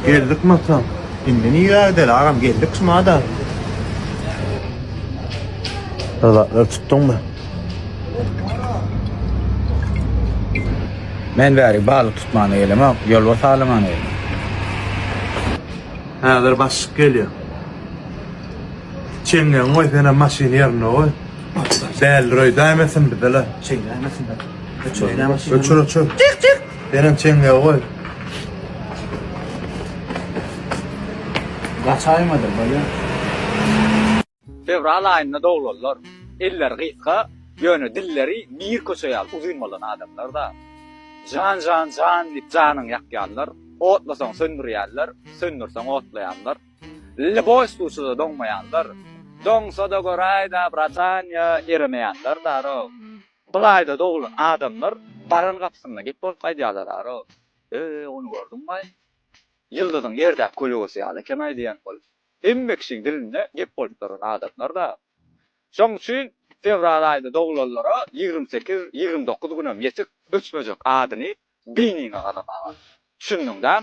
Geldik Mata. Indi nirä gideli agam geldik şumada. Bir zatlar tutduňmy? Men bäri balyk tutmana gelemok, ýolbars alamana geldim. Häzir başlyk gelýär. Çeňňegiň goý senem maşyny ýerinde goý. Däldir öý daýym etsin bizele. Çeňňe nämesin be. Öçür nämesin. Öçür öçür. Çyk çyk. Senem çeňňegi goý. Gaçaýmadyr bolýa. Fewral aýynda doglanlar. Elleri gysga, ýöne dilleri bir köçe ýaly uzyn bolan adamlar-da. Jan jan jan diýip janyňy ýakýanlar, otlasaň söndürýänler, söndürseň otlaýanlar. Lili boş suwçuda doňmaýandyr. Doňsa-da göräýdä, bratanýa, eremeýändir, darow. Bulaýda doglan adamlar baran gapysynda gep bolup gaýdýarlar, darow. Öe, ony gördüňmi-aý? Ýyldyzyň ýerdäki kölegesy ýaly eken-aý diýen ol. Hemme kişiň dilinde gep bolup duran adamlar-da. Şoň üçin fewral aýynda doglanlara ýigrimi sekiz, ýigrimi dokuz günem ýetik öçmejek adyny beýniňe gazamaga. Düşündiň däl?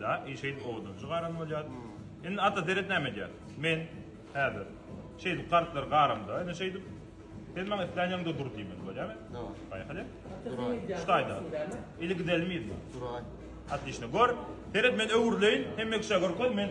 Däl, şeýdip owadanjy garan bolýar. Indi Ata seret näme edýär. Men häzir şeýdip gartlary garamda, indi şeýdip sen maňa islän ýeriňde dur diýmeli bolýarmy? Daway. Paýhal. Duraýyn. Şu taýda. Ili gidelimiz. Duraýyn. Otlişno. Gör, seret men öwrüleýin, hemme kişä görkez, men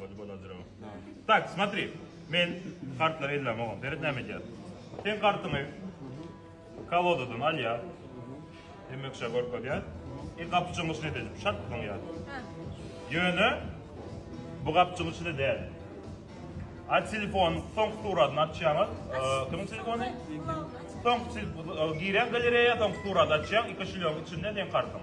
Body balandra. Tak, smatri. Men kartlar ellam oğlum. Seret näme edýär. Sen kartyňy kolodadan al ya. Demek şa görüp edýär. E gapçyň içine de şat tutuň ya. Ýöne bu gapçyň içine däl. A telefon soň suratyny açýaňyz. Kimiň telefony? Soň girýän galereýa soň suraty açýaň. Iki şilýoň içinde sen kartyň.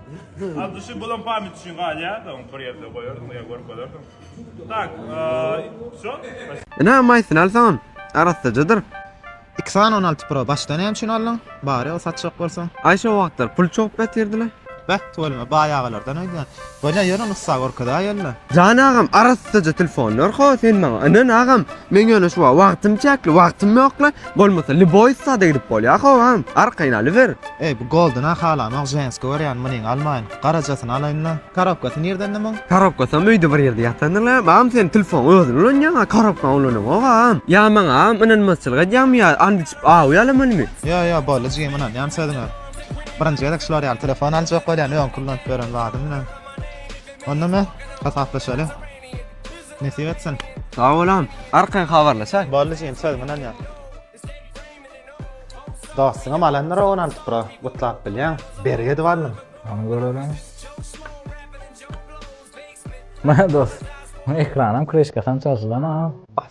Adyşy bulan pamit üçin galýar, da bir ýerde goýardyň, ýa görkezerdiň. Tak, şo. Ine, maýsyny alsaňam, arassajadyr. Xan on alty pro başda näme üçin aldyň? Bary ol satjak bolsaň. Aý şo wagtlar pul çogup ýatyrdyla. Beh, tüweleme, baý agalardan öýdýän. Bolýa, ýör ony ussa görkezäýeli-le. Jan agam, arassaja telefon ber-ha sen maňa. Ynan agam, Men ýöne şu wagtym çäkli wagtym ýokla bolmasa liboýs sada gidip bolýa howam arkaýyn alyber. Eý bu golduna halanok ženski görýän munyň almaýyn garajasyny alaýynda. Karobkasy nirdende muň? Karobkasam öýde bir ýerde ýatandyr-la, agam sen telfony özüň ulanýaňa karobkaňy ulanaňok agam. Ýa maňa agam ynanmazçylyk edýäňmi ýa and içip awy ýalamalymy. Ýo ýo boldy jigim ynanýan sözüňe. Birinji gezek şular ýaly telefon aljak bolýan öňki ulanyp ýören zadym bilen. Onda me hasaplaşaly. Nesip etsin. Sag bolan, arkaýyn habarlaşaý. Boldy jigim sözüme ynanýan. Dostuňam alandyr ony alyp bura gutlap bilýäň. Bergi edip aldym. Hany göreliň. Mana dost. Ekranam kreşkasam çalşylan ha.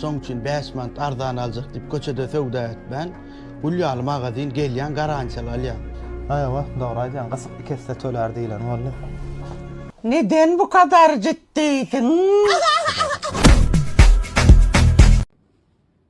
Şoň üçin bäş manat arzan aljak diýip köçede söwda etmän, gül ýaly magazin gelýän garantiýaly alýan. Haýwa, dogry aýdýaň, gysyk iki esse tölär diýlen boldy. Neden bu kadar ciddiysiň?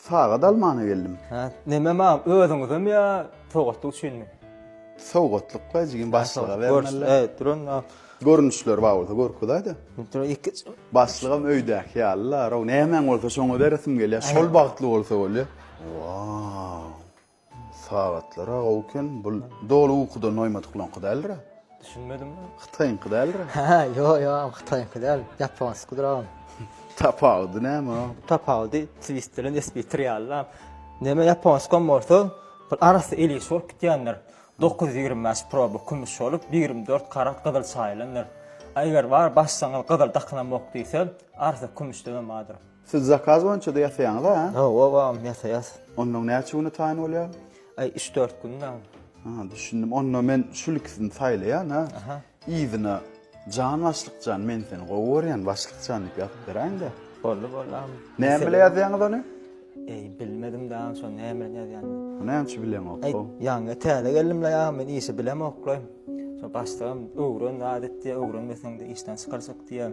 Sagat almana geldim. Hä, neme mam, özüňizem ýa sowgatlyk üçinmi? Sowgatlykla jigim başlyga bermeli. Hä, duran. Görnüşleri bar bolsa görkezäýdä. Duran iki. Başlygam öýdäki ýaly-la, row nämäň bolsa şoňa beresim gelýär. Şol bagtly bolsa bolýar. Wau. Sagatlara gowy eken bul doly ukudan noýmadyklaňky däldirä. Düşünmedim men. Hytaýyňky däldirä. Hä ýo ýo hytaýyňky däl ýaponskidir agam. Tapawudy näme o. Tapawudy twist bilen espitr ýalyda. Näme ýaponskam bolsa bir arasy ilişik bolup gitýändir. Dokuz ýüz ýigrimi bäş proba kümüş bolup bir ýigrimi dört karat gyzyl çaýylandyr. A eger bar başsaňyz gyzyl dakylanmok diýse arasy kümüşdenem bardyr. Siz zakaz boýunça-da ýasaýaňyz a? Hawa agam ýasaýas. Onnoň näçe güne taýyn bolýar? Aý üç dört gün agam. Ha düşündim. Onda men şul ikisini saýlaýan a. Aha. Yzyna Jan başlykjan men seni gowy görýän başlykjan diýip ýazyp beräýiňdä. Boldy boldy agam. Näme bilen ýazýaňyz ony? Eý bilmedim da şo näme bilen ýazýan. Näme üçin bileňok? Aý ýaňy täze geldim la agam men işi bilemok la. Şo başlygym öwren zat et diýýär öwrenmeseň de işden çykarjak diýýär.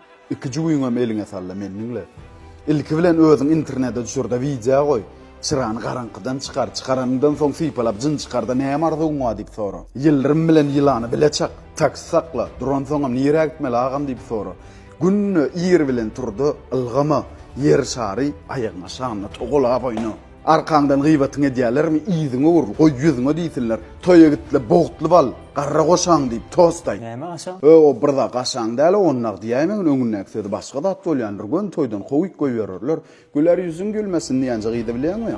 Iki jübüňem eliňe salda meni diňle. Ilki bilen özüň internede düşürde wideo goý. Çyrany garaňkydan çykar. Çykaranyňdan soň sypalap jyn çykarda näme arzuwyň bar diýip sora. Ýyldyrym bilen ýylany bile çak. Taksi sakla. Duransoňam nirä gitmeli agam diýip sora. Günde ir bilen turda ylgama. Ýer şary aýagyňa şanla togalap oýna. Arkaňdan gybatyňy edýälermi, yzyňy ur, goý ýüzüňe diýsinler. Toýa git-le, bogtly bal, garra goşaň diýip, tost aýt. Näme gaşaň? Hö-o, bir zat gaşaň däl-ow, ony nagt diýäýmegiň, öňündäki sözi başga zat bolýandyr, göni toýdan kowup goýbererler. Güler ýüzüň gülmesin diýenje gyzy bilýäňmi?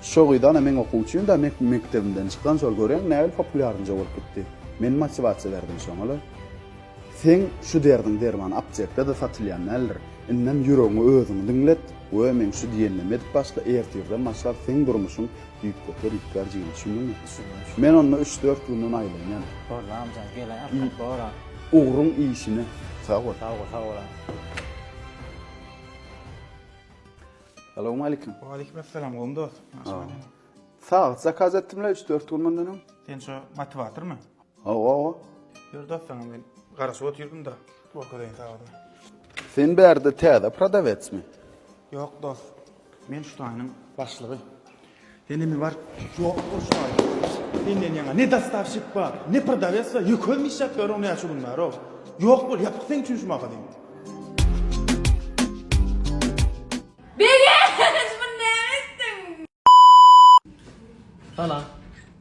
Şo gyzana meň okuwçym-da, mekdebimden çykan, şol göreň, nähili populýarynja bolup gitdi. Men motiwasiýa berdim şoňa-la. Seň şu derdiň derman aptekda-da satylýan däldir. Indem ýüregiňi özüň diňlet we meň şu diýenimi edip başla, ertirden başlap seň durmuşyň düýpgöter üýtgär jigim, şunduňmy? Düşündim, şü. Men onda üç-dört günden aýlanýan. Boldy amjan, gelen arkaly bor a. Ugruň işine sag bol. Sag bol, sag bol a. Salowmaleýkim. Waleýkimessalam, gowymy dost? Ýagşymy? Sagat zakaz etdim-le üç-dört gün mundan öň. Sen şo motiwatormy? Hawa. Ýör dos saňa men garaşyp otyrdym-da, görkezeýin saňa. Sen bärde täze prodawetsmi? Ýok dos, men şu taýynyň başlygy. Sen indi bar, ýok bol şu taýy. Senden ýaňa ne dostawşik bar, ne prodawets bar, ýöküzin işläp ýörüň näçe gün bäri-ow. Ýok bol, ýapyk seň üçin şu magazyn. Begenç, muny näme etdiň? Salam.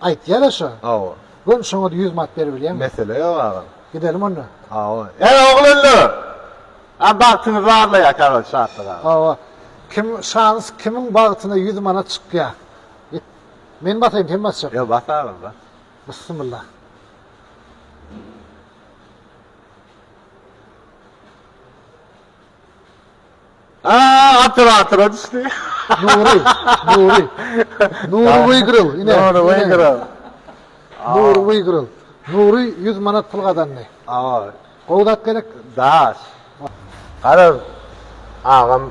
Aýtýaraşa. Awa. Göni şoňa-da ýüz manat berip bilýäňmi? Mesele ýok, agam. Gidelim onda. Awa. Äý, oglanlar! A bagtyňyzy barlaýarka agam Şatlyk aga. Awa. Kim, şans kimiň bagtyna ýüz manat çykýar? Git. Men basaýyn, sen basjakmy? Ýok, bas agam, bas. Bissimilla. Aa, atyr atyra düşdi. Nury, Nury. Nury Wygril, ine. Nury Wygril. Nury Wygril. Nury 100 manat pul gazandy. Awa. Gowy zat gerek. Daş. Garaz, agam